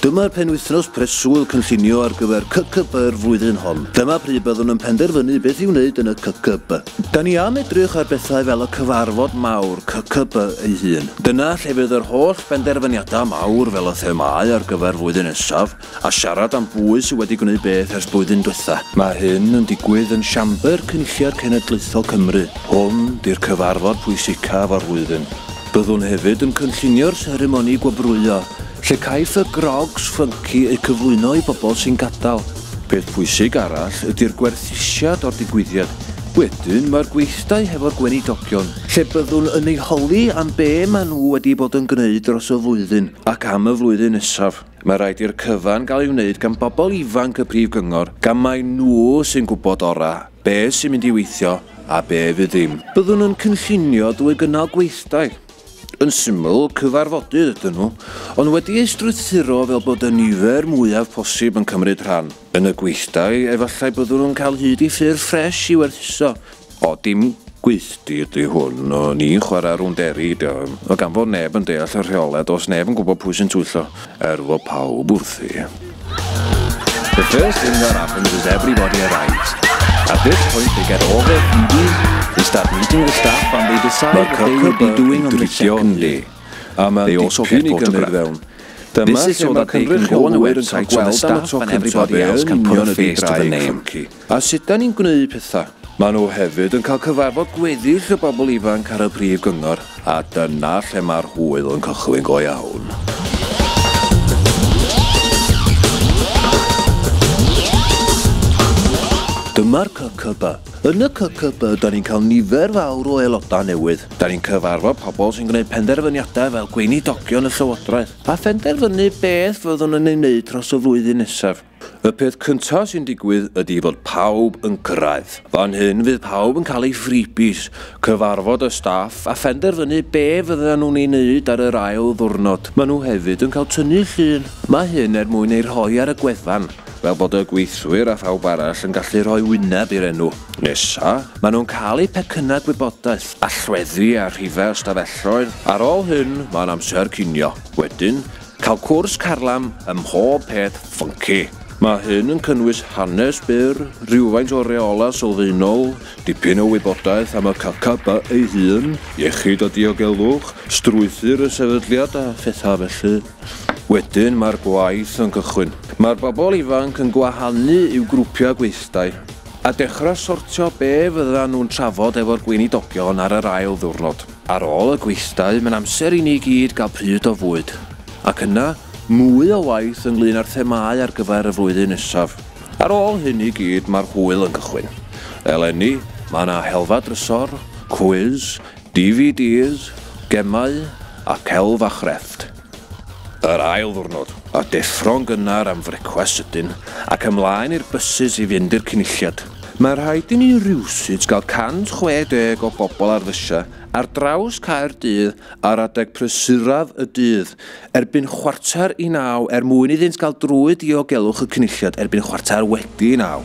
Dyma'r penwythnos preswyl cynllunio ar gyfer CCB yr flwyddyn hon. Dyma pryd byddwn yn penderfynu beth i'w wneud yn y CCB. Da ni am edrych ar bethau fel y cyfarfod mawr CCB ei hun. Dyna lle fydd yr holl benderfyniadau mawr fel y themau ar gyfer flwyddyn nesaf, a siarad am bwy sydd wedi gwneud beth ers blwyddyn dwetha. Mae hyn yn digwydd yn Siambr Cynulliad Cenedlaethol Cymru. Hwn 'di'r cyfarfod pwysicaf o'r flwyddyn. Byddwn hefyd yn cynllunio'r seremoni gwobrwyo, lle caiff y grogs ffynci eu cyflwyno i bobl sy'n gadael. Peth pwysig arall ydi'r gwerthusiad o'r digwyddiad. Wedyn mae'r gweithdai hefo'r Gweinidogion, lle byddwn yn eu holi am be maen nhw wedi bod yn gwneud dros y flwyddyn ac am y flwyddyn nesaf. Mae rhaid i'r cyfan gael ei wneud gan bobl ifanc y Prif Gyngor gan mai nhw sy'n gwybod orau be sy'n mynd i weithio a be fydd ddim. Byddwn yn cynllunio drwy gynnal gweithdai, yn syml, cyfarfodydd ydyn nhw, ond wedi eu strwythuro fel bod y nifer mwyaf posib yn cymryd rhan. Yn y gweithdai, efallai byddwn yn cael hyd i ffyrdd ffresh i werthuso. O, dim gweithdy ydy hwn, o ni'n chwarae rownd eri ydy o, o gan fod neb yn deall y rheole, does neb yn gwybod pwy sy'n twyllo, er fod pawb wrthi. The first thing that happens is everybody arrives. At this point they get all their PDs, they start meeting the staff and they decide what they will be doing on the second day. They also get photographs. Dyma lle mae'r cynrychiolwyr yn cael gweld am y tro cyntaf be yn union ydy Gwraig Ffynci a sut 'da ni'n gwneud pethau. Maen nhw hefyd yn cael cyfarfod gweddill y bobl ifanc ar y Prif Gyngor a dyna lle mae'r hwyl yn cychwyn go iawn. Dyma'r CCB. Yn y CCB 'da ni'n cael nifer fawr o aelodau newydd. Da ni'n cyfarfod pobl sy'n gwneud penderfyniadau fel gweinidogion y Llywodraeth a phenderfynu beth fyddwn yn ei wneud dros y flwyddyn nesaf. Y peth cyntaf sy'n digwydd ydy fod pawb yn cyrraedd. Fan hyn fydd pawb yn cael eu freebies, cyfarfod y staff a phenderfynu be fyddan nhw'n ei wneud ar yr ail ddiwrnod. Maen nhw hefyd yn cael tynnu llun. Mae hyn er mwyn eu rhoi ar y gwefan. fel bod y gweithwyr a phawb arall yn gallu rhoi wyneb i'r enw nesa', maen nhw'n cael eu pecynnau gwybodaeth, allweddi a rhifau ystafelloedd, ar ôl hyn mae'n amser cinio, wedyn, cael cwrs carlam ym mhob peth ffynci. Mae hyn yn cynnwys hanes byr, rhywfaint o reolau sylfaenol, dipyn o wybodaeth am y KKB ei hun, iechyd a diogelwch, strwythur y sefydliad a phethau felly. Wedyn mae'r gwaith yn cychwyn. Mae'r bobl ifanc yn gwahanu i'w grwpiau gweithdai a dechrau sortio be fyddan nhw'n trafod efo'r gweinidogion ar yr ail ddiwrnod. Ar ôl y gweithdai, mae'n amser i ni gyd gael pryd o fwyd, ac yna, mwy o waith ynglŷn â'r themâu ar gyfer y flwyddyn nesaf. Ar ôl hyn i gyd, mae'r hwyl yn cychwyn. Eleni, mae 'na helfa drysor, cwis, DVDs, gemau a celf a chrefft. Yr ail ddwrnod, a deffro'n gynnar am frecwast sydyn ac ymlaen i'r bysus i fynd i'r Cynulliad. Mae rhaid i ni rywsut gael 160 o bobl ar fysiau ar draws Caerdydd ar adeg prysuraf y dydd erbyn chwarter i naw er mwyn iddynt gael drwy diogelwch y Cynulliad erbyn chwarter wedi naw.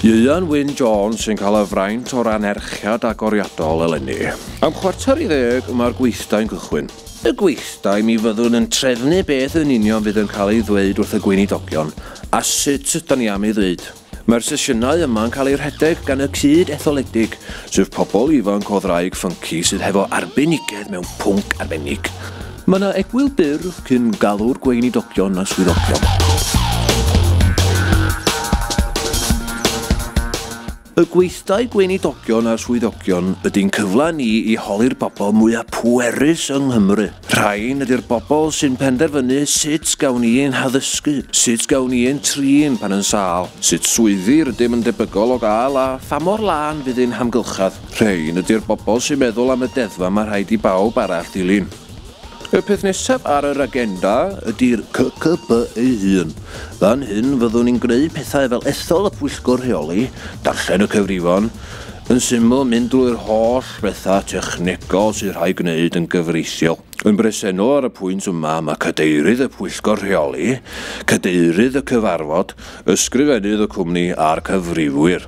Ieuan Wyn Jones sy'n cael y fraint o'r anerchiad agoriadol eleni. Am chwarter i ddeg mae'r gweithdai'n cychwyn. Y gweithdai mi fyddwn yn trefnu beth yn union fydd yn cael ei ddweud wrth y gweinidogion a sut ydan ni am ei ddweud. Mae'r sesiynau yma'n cael eu rhedeg gan y cyd etholedig, sef pobl ifanc o ddraig ffynci sydd hefo arbenigedd mewn pwnc arbennig. Mae yna egwyl byr cyn galw'r gweinidogion a swyddogion. Y gweithdai gweinidogion a swyddogion ydy'n cyfle ni i holi'r bobl mwyaf pwerus yng Nghymru. Rhain ydy'r bobl sy'n penderfynu sut gawn ni ein haddysgu, sut gawn ni ein trin pan yn sâl, sut swyddi rydym yn debygol o gael a pha mor lân fydd ein hamgylchedd. Rhein ydy'r bobl sy'n meddwl am y deddfa mae rhaid i bawb arall ddilyn. Y peth nesaf ar yr agenda ydy'r CCB ei hun. Fan hyn fyddwn ni'n gwneud pethau fel ethol y pwyllgor rheoli, darllen y cyfrifon, yn syml mynd drwy'r holl bethau technegol sydd rhaid gwneud yn gyfreithiol. Yn bresennol ar y pwynt yma mae cadeirydd y pwyllgor rheoli, cadeirydd y cyfarfod, ysgrifennydd y cwmni a'r cyfrifwyr.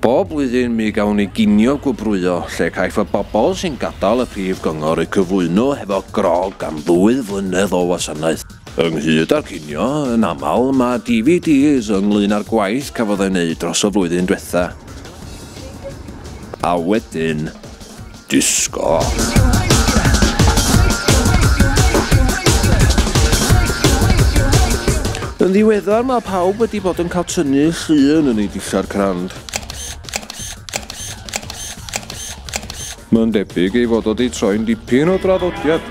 Bob blwyddyn mi gawn ni ginio gwobrwyo lle caiff y bobl sy'n gadael y Prif Gyngor eu cyflwyno hefo grogg am ddwy flynedd o wasanaeth. Ynghyd â'r cinio, yn aml, mae DVDs ynglŷn â'r gwaith cafodd ei wneud dros y flwyddyn diwetha'. A wedyn. Disco. Yn ddiweddar mae pawb wedi bod yn cael tynnu llun yn ei dillad crand. Mae'n debyg ei fod wedi troi'n dipyn o draddodiad.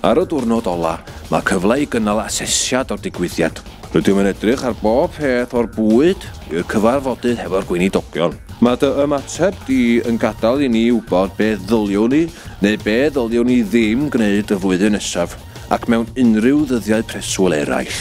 Ar y diwrnod ola, mae cyfle i gynnal asesiad o'r digwyddiad. Rydym yn edrych ar bob peth o'r bwyd i'r cyfarfodydd hefo'r gweinidogion. Mae dy ymateb di yn gadael i ni wybod be ddyliwn ni neu be ddyliwn ni ddim gwneud y flwyddyn nesaf ac mewn unrhyw ddyddiau preswyl eraill.